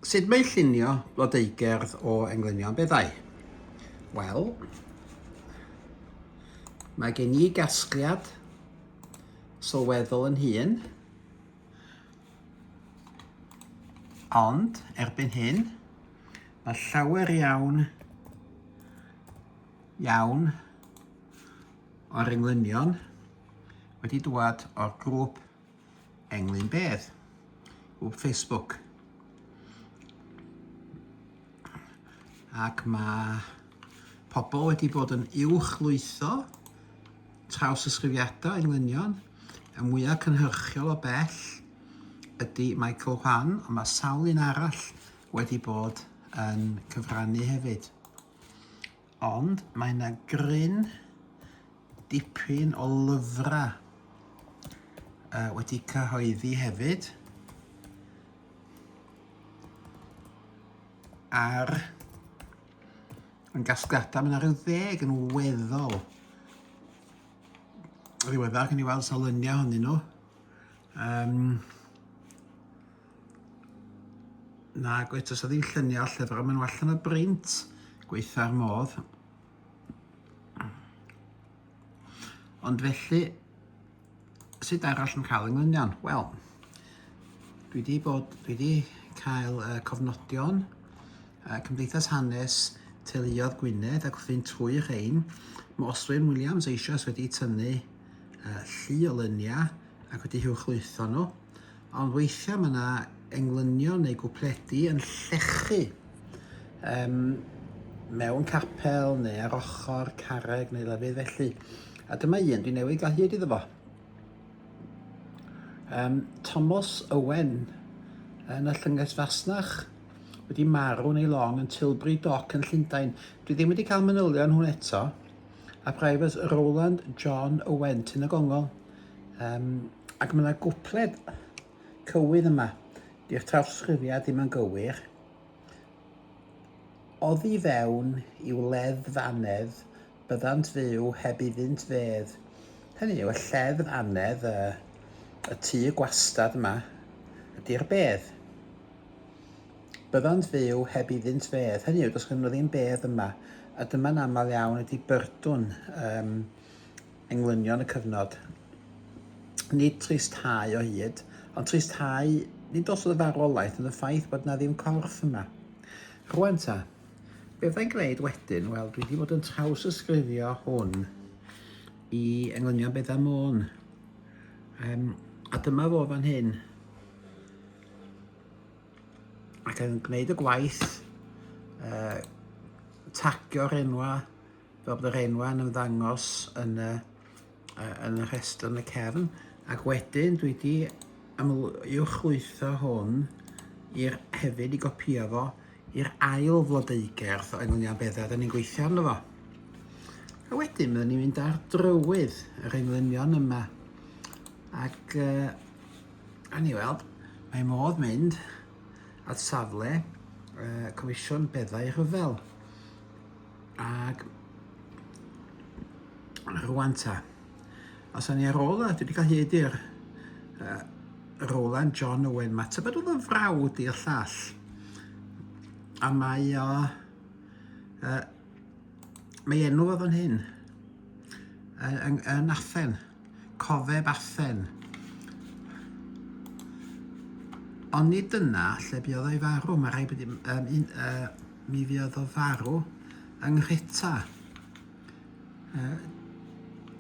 Sut mae llunio blodeugerdd o englynion beddau? Wel, mae gen i gasgliad sylweddol yn hun, ond erbyn hyn, mae llawer iawn, iawn o'r englynion wedi dwad o'r grŵp Englyn beth? O Facebook. Ac mae pobl wedi bod yn uwch lwytho traws ysgrifiadau englynion. Y mwyaf cynhyrchiol o bell ydy Michael Hwan, ond mae sawl un arall wedi bod yn cyfrannu hefyd. Ond mae 'na gryn dipyn o lyfrau yy wedi cyhoeddi hefyd ar yn gasgliadau, mae 'na rhyw ddeg yn weddol ddiweddar, gen i weld sawl luniau ohonyn nhw. Um, Na, gweud, os ddim lluniau lle fyrra maen nhw allan o brint, gweitha'r modd. Ond felly, sut arall yn cael ynglunion? Wel, dwi wedi bod, dwi wedi cael uh, cofnodion uh, Cymdeithas Hanes Teuluodd Gwynedd ac wrth fynd trwy rhain, mae Oswyn Williams eisoes wedi tynnu uh, llu o lyniau ac wedi hiwchlwytho nhw. ond weithiau mae yna englynion neu gwpledi yn llechu um, mewn capel neu ar ochr carreg neu lefydd felly. A dyma un dwi'n newid gael hyd iddo fo. Um, Thomas Owen yn y llynges fasnach wedi marw neu long yn Tilbury Dock yn Llundain. Dwi ddim wedi cael manylion hwn eto. A Private Roland John Owen, Tyn y Gongol, Um, ac mae yna gwpled cywydd yma. Di'r trawsgrifiad ddim yn gywir. Oddi fewn i'w leddfanedd, byddant fyw heb iddynt fedd. Hynny yw, y lleddf anedd, y, y tu gwastad yma, ydy'r bedd. Byddant fyw heb iddynt fedd. Hynny yw, does gen nhw ddim bedd yma. A dyma'n aml iawn ydy byrdwn um, englynion y cyfnod. Nid tristhau o hyd, ond tristhau nid os oedd y farwolaeth yn y ffaith bod na ddim corff yma. Rwan ta, be fyddai'n gwneud wedyn? Wel, dwi wedi bod yn traws ysgrifio hwn i englynion Beda Môn. Um, a dyma fo fan hyn. Ac yn gwneud y gwaith, uh, tagio'r enwa fel bod yr enwau yn ymddangos yn y, uh, yn y rhestr yn y cefn, ac wedyn dwi wedi ymlwyrchlwytho hwn i'r hefyd i gopio fo i'r ail flodeugerdd o enw Nian Beddau da ni'n gweithio arno fo. A wedyn byddwn ni'n mynd ar drywydd yr englynion yma. Ac uh, a ni weld, mae modd mynd at safle uh, Comisiwn Beddau Rhyfel. Ag rwan ta. A sa'n ni ar ôl a dwi wedi cael hyd i'r uh, Roland John Owen Matter, bod oedd yn frawd i'r llall. A mae o... Uh, mae enw o fan hyn yn, yn, yn Athen. Cofeb Athen. Ond nid dyna lle buodd o'i farw. Mae rhaid bod um, un, uh, mi fuodd o farw yng Nghreta. Uh,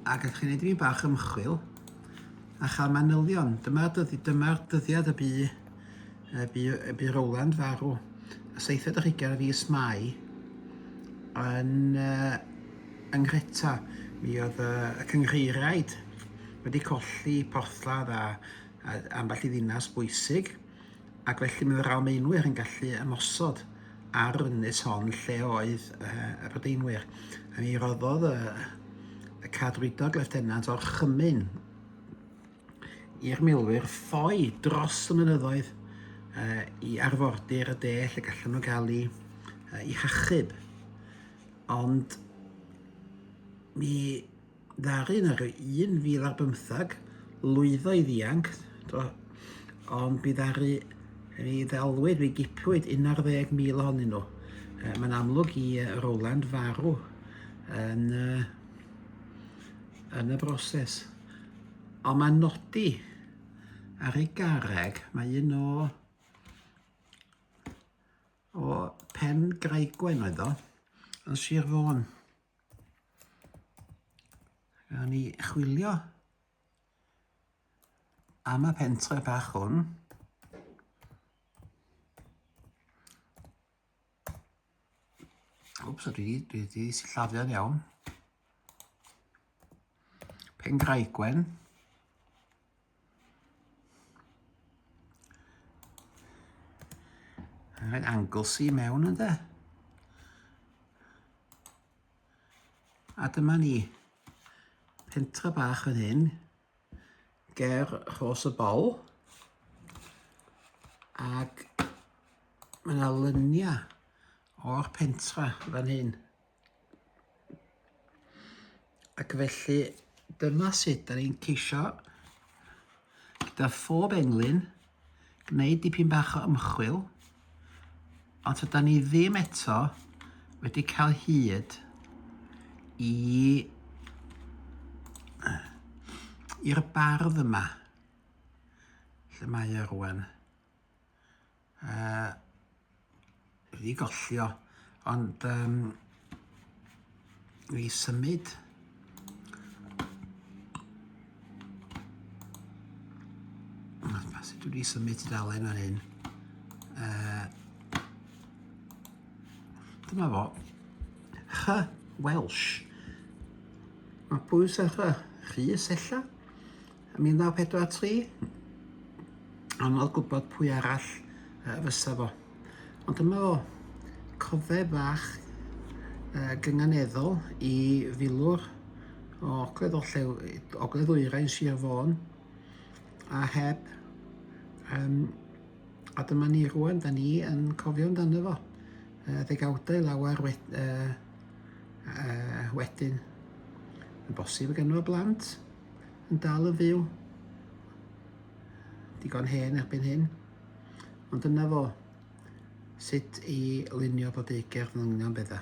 ac ydych chi'n gwneud i mi bach ymchwil a chael manylion. Dyma'r dyddi, dyma dyddiad y bu y bu, y bu Rowland farw y seithfed ar hugain o fis Mai yn uh, yng Nghreta. Mi oedd uh, y cynghreiriaid wedi colli porthladd a, a ambell i ddinas bwysig ac felly mae yr Almaenwyr yn gallu ymosod ar ynys hon lle oedd uh, y Brydeinwyr. A mi roddodd y, y cadwydog leftenant o'r chymyn i'r milwyr ffoi dros y mynyddoedd uh, i arfordir y de lle gallan nhw gael ei, uh, i hachub. Ond mi ddaru yn yr 1000 ar bymthag lwyddo i ddianc, do, ond mi ddaru mi ddelwyd, mi gipwyd 11,000 ohonyn nhw. Uh, Mae'n amlwg i uh, Roland farw yn uh, yn y broses. Ond mae'n nodi ar ei garreg, mae un o o Pen Graigwen oedd o, yn Sir Fôn. Gawn ni chwilio am y pentre bach hwn. Wps, dwi wedi, dwi wedi sillafio'n iawn. Pengraigwen. Mae'n angle si mewn yn de. A dyma ni pentra bach yn hyn. ger rhos y bol ac mae yna luniau o'r pentra fan hyn. Ac felly dyma sut da ni'n ceisio gyda phob englyn gwneud dipyn bach o ymchwil, ond tyda ni ddim eto wedi cael hyd i i'r bardd yma. Lle mae e rwan? Uh, Wedi gollio, ond um, i symud sut dwi wedi symud tudalen ar hyn uh, dyma fo Hy Welsh mae pwys ar Rhys ella Yn 1943, anodd gwybod pwy arall fysa fo. Ond dyma fo, cofeb fach gynganeddol i filwr o Ogledd Orllew, Ogledd Ddwyrain Sir Fôn, a heb, um, a dyma ni rwan, da ni yn cofio amdano fo, uh, ddegawdau lawer wed, uh, uh, wedyn. Yn bosib y genwa blant, yn dal yn fyw. Digon hen erbyn hyn. Ond dyna fo, sut i lunio bod ei gerdd yn union bydda.